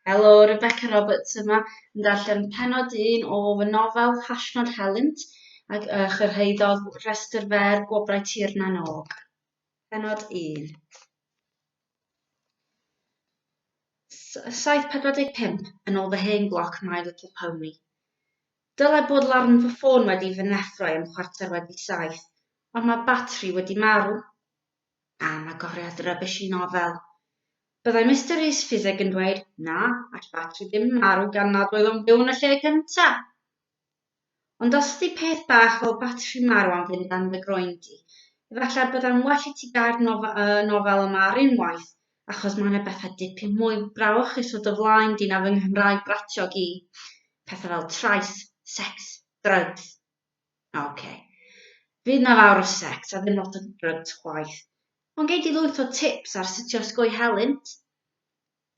Helo, Rebecca Roberts yma yn darllen penod un o fy nofel Hashnod Helynt ac uh, chyrhaeddodd rhestr fer Gwobrau Tir na Nog. Penod 1 7.45 yn ôl fy hen gloc My Little Pony. Dylai bod larn fy ffôn wedi fy neffro i am chwarter wedi saith, ond mae batri wedi marw. Am agoriad rubbish i nofel. Byddai Mister Rhys Ffiseg yn dweud, Na, all batri ddim marw gan nad oedd o'n byw yn y lle cynta! Ond os ydi peth bach fel batri marw am fynd dan dy groen di, efallai byddai'n well i ti gau'r y nofel yma ar unwaith, achos mae yna bethau dipyn mwy brawychus o dy flaen di na fy Nghymraeg bratiog i. Pethau fel trais, sex, drugs, Ok. Fydd 'na fawr o sex a ddim lot o drugs chwaith. Ond gei di lwyth o tips ar sut i osgoi helynt.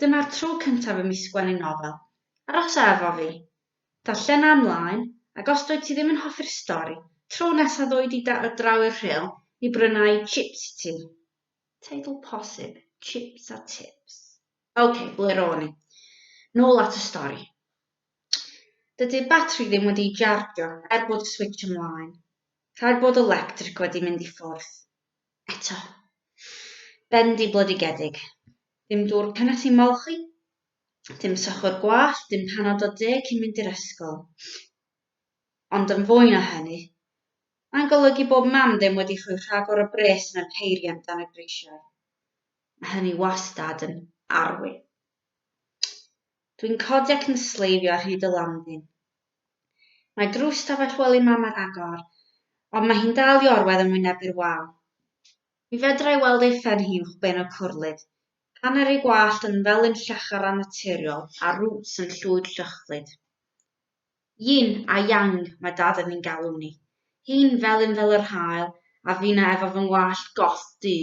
Dyma'r tro cyntaf i mi sgwennu nofel. Arosa efo fi. Darllena ymlaen, ac os dwyt ti ddim yn hoffi'r stori, tro nesa ddoi di daro draw i'r rhyl i brynau chips i ti. Teitl posib, Chips a Tips. Ok, ble ro'n i? Nôl at y stori. Dydy'r batri ddim wedi ei jardio er bod y switch ymlaen. Rhaid bod y lectric wedi mynd i ffwrdd. Eto. Bendigledigedig. Dim dŵr cynnes i molchi, dim sychwr gwallt, dim panad o de cyn mynd i'r ysgol. Ond yn fwy na hynny, mae'n golygu bod mam ddim wedi rhoi rhagor o bres yn y peiriant dan y grisiau. Mae hynny wastad yn arwyn. Dwi'n codi ac yn sleifio ar hyd y landin. Mae drws stafell wely Mam ar agor, ond mae hi'n dal i orwedd yn wynebu'r wal. Mi fedra i weld ei phen hi uwch ben y cwrlid, hanner ei wallt yn felyn llachar annaturiol a'r rŵts yn llwyd llychflyd. Yin a Yang, mae Dad yn ein galw ni. Hi'n felyn fel yr haul, a finna efo fy ngwallt goth du.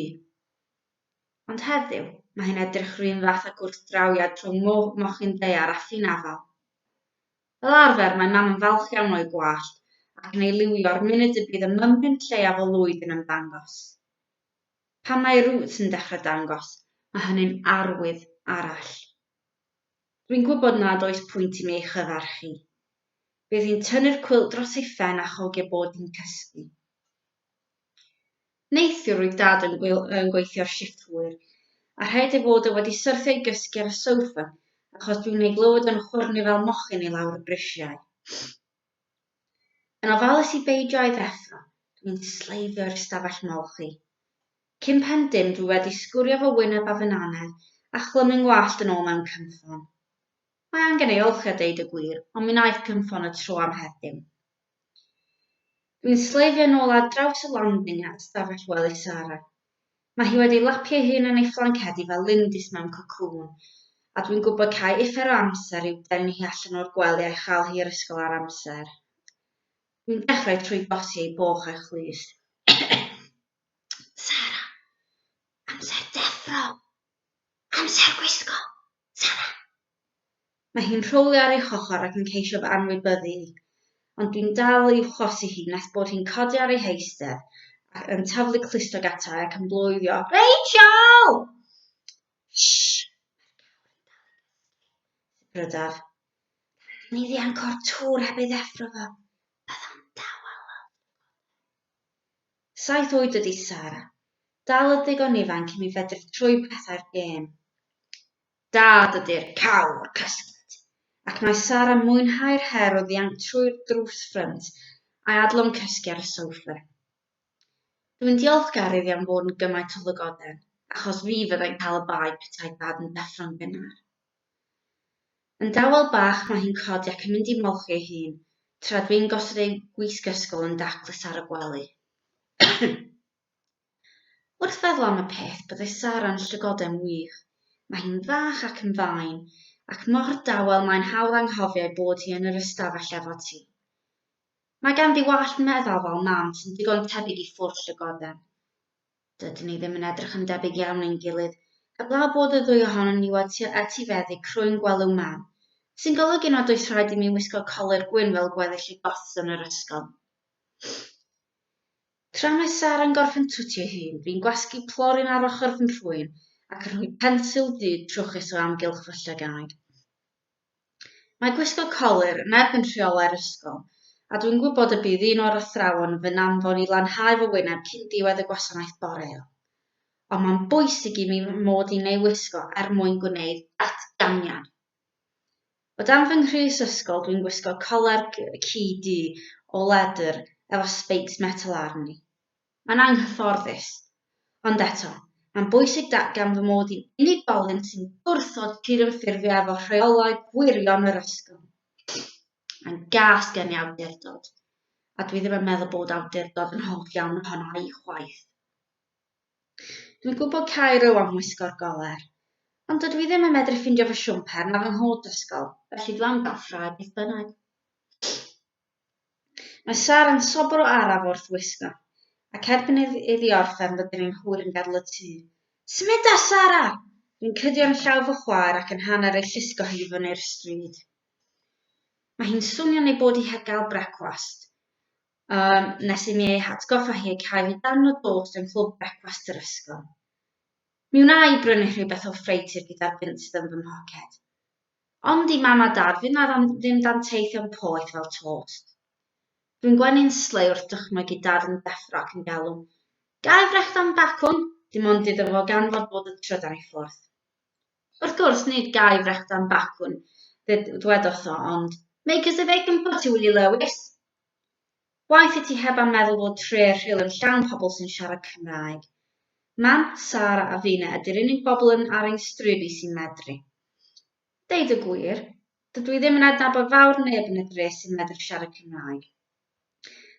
Ond heddiw, mae hi'n edrych yr un fath â gwrthdrawiad rhwng mochyn daear a ffin afal. Fel arfer, mae Mam yn falch iawn o'i gwallt ac yn ei liwio'r munud y bydd y mymryn lleiaf o lwyd yn ymddangos. Pan mae'r rŵt yn dechrau dangos, mae hynny'n arwydd arall. Rwy'n gwybod nad oes pwynt i mi ei chyfarchu. Bydd hi'n tynnu'r cwilt dros ei phen a chogi bod hi'n cysgu. Neithiwr roedd Dad yn gweithio'r shifft hwyr, a rhaid ei fod e wedi syrthio i gysgu ar y sofa achos dwi'n ei glywed o'n chwyrnu fel mochyn i lawr y brisiau. Yn ofalus i beidio â'i ddeffro, dwi'n sleifio i'r stafell molchi. Cyn pen dim dwi wedi sgwrio fy wyneb a fy nannedd a chlymu'n ngwallt yn ôl mewn cynffon. Mae angen ei olchi a deud y gwir, ond mi wnaeth cynffon y tro am heddiw. Dwi'n sleifio'n ôl ar draws y landing at stafell wely Sara. Mae hi wedi lapio ei hun yn ei phlancedi fel lindys mewn cocŵn, a dwi'n gwybod cai uffar o amser i'w denu hi allan o'r gwely a'i chael hi i'r ysgol ar amser. Dwi'n dechrau trwy gosi ei boch a'i chlust. Sara, amser deffro! Amser gwisgo! Mae hi'n rhowlio ar ei hochr ac yn ceisio fy anwybyddu i, ond dwi'n dal i uwchorsi hi nes bod hi'n codi ar ei heistedd ac yn taflu clustog ata i ac yn bloeddio, Rachel! Shh! Mae'r gawr yn dal i gysgu! Sibrydaf. Rhaid i ni ddianc o'r tŵr heb ei ddeffro fo. Byddai'n dawel weld dy fod e. Saith oed ydi Sara. Dal yn ddigon ifanc i mi fedru troi pethau'r gêm. Dad ydi'r cawr cyllid. Ac mae Sara'n mwynhau'r her o ddianc trwy'r drws ffrynt a'i adlon cysgu ar y sofa. Dwi'n diolchgar iddi am fod yn gymaint o ddygoden, achos fi fyddai'n cael y bae petai Dad yn deffro'n gynnar. Yn dawel bach mae hi'n codi ac yn mynd i molchi ei hun, tra dw i'n gosod ei wisg ysgol yn daclus ar y gwely. Wrth feddwl am y peth, byddai Sara'n llygoden wych. Mae hi'n fach ac yn fain, ac mor dawel mae'n hawdd anghofio ei bod hi yn yr ystafell efo ti. Mae ganddi wallt meddal fel mam sy'n digon tebyg i ffwrdd llygoden. Dydyn ni ddim yn edrych yn debyg iawn ein gilydd, heblaw bod y ddwy ohonon ni wedi etifeddu crwyn gwelyw mân, sy'n golygu nad oes rhaid i mi wisgo colur gwyn fel gweddill y goths yn yr ysgol. Tra mae Sara'n gorffen twtio'i hun, fi'n gwasgu plorin ar ochr fy nhrwyn ac yn rhoi pensil du trwchus o amgylch fy llygaid. Mae gwisgo colur neb yn rheolau'r ysgol, a dwi'n gwybod y bydd un o'r athrawon yn fy anfon i lanhau fy wyneb cyn diwedd y gwasanaeth boreol. Ond mae'n bwysig i mi fy mod i'n ei wisgo er mwyn gwneud datganiad. O dan fy nghrys ysgol dwi'n gwisgo coler ci du o ledr efo speics metel arni. Mae'n anghyfforddus. Ond eto, mae'n bwysig datgan fy mod i'n unigolyn sy'n gwrthod cydymffurfio efo rheolau gwirion yr ysgol. Mae'n gas gen i awdurdod, a dwi ddim yn meddwl bod awdurdod yn hoff iawn ohona i chwaith. Dwi'n gwybod Cairo am wisgo'r goler, ond dydw i ddim yn medru ffindio fy siwmper na fy nghot ysgol, felly dw am gael ffrae beth bynnag. Mae Sara yn sobor o araf wrth wisgo, ac erbyn iddi orffen rydyn ni'n hwyr yn gadel y tŷ. Symudar, Sara! Dwi'n cydio yn llaw fy chwaer ac yn hanner ei llusgo hi i fyny'r stryd. Mae hi'n swnio'n ei bod hi heb gael brecwast, um, nes i mi ei hatgoffa hi ei cael hi darn o dost yng nghlwb brecwast yr ysgol. Mi wna i brynu rhywbeth o ffreutur gyda'r bunt sydd yn fy mhoced. Ond i Mam a Dad, fydd 'na ddim danteithion poeth fel tost. Dwi'n gwenu'n slei wrth dychmyg i Dad yn deffro ac yn galw, Ga'i frechd am bacwn? Dim ond iddo fo ganfod bod y trydan i ffwrdd. Wrth gwrs, nid ga'i frechd am bacwn, ddwedodd o, ond, Make us a bacon pot, Iwli Lewis! Waeth i ti heb am meddwl fod tre rhyl yn llawn pobl sy'n siarad Cymraeg. Mam, Sara a Fina ydy'r unig bobl yn ar ein stryd i sy'n medru. Deud y gwir, dydw i ddim yn adnabod fawr neb yn y dre sy'n medru siarad Cymraeg.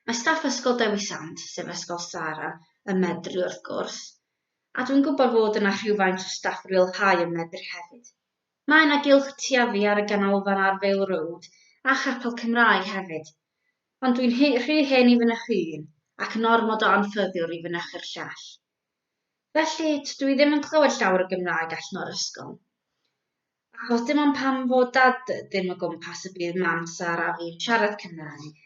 Mae staff Ysgol Dewi Sant, sef ysgol Sara, yn medru wrth gwrs, a dwi'n gwybod fod yna rhywfaint o staff rhyl High yn medru hefyd. Mae yna gylch tuafi ar y ganolfan ar Vale Road a chapel Cymraeg hefyd, ond dwi'n rhy hen i fynych un ac yn ormod o anffyddiwr i fynychu'r llall. Felly, tydw i ddim yn clywed llawer o Gymraeg allan o'r ysgol. Achos dim ond pan fo Dad ddim o gwmpas y bydd Mam, Sara a fi'n siarad Cymraeg.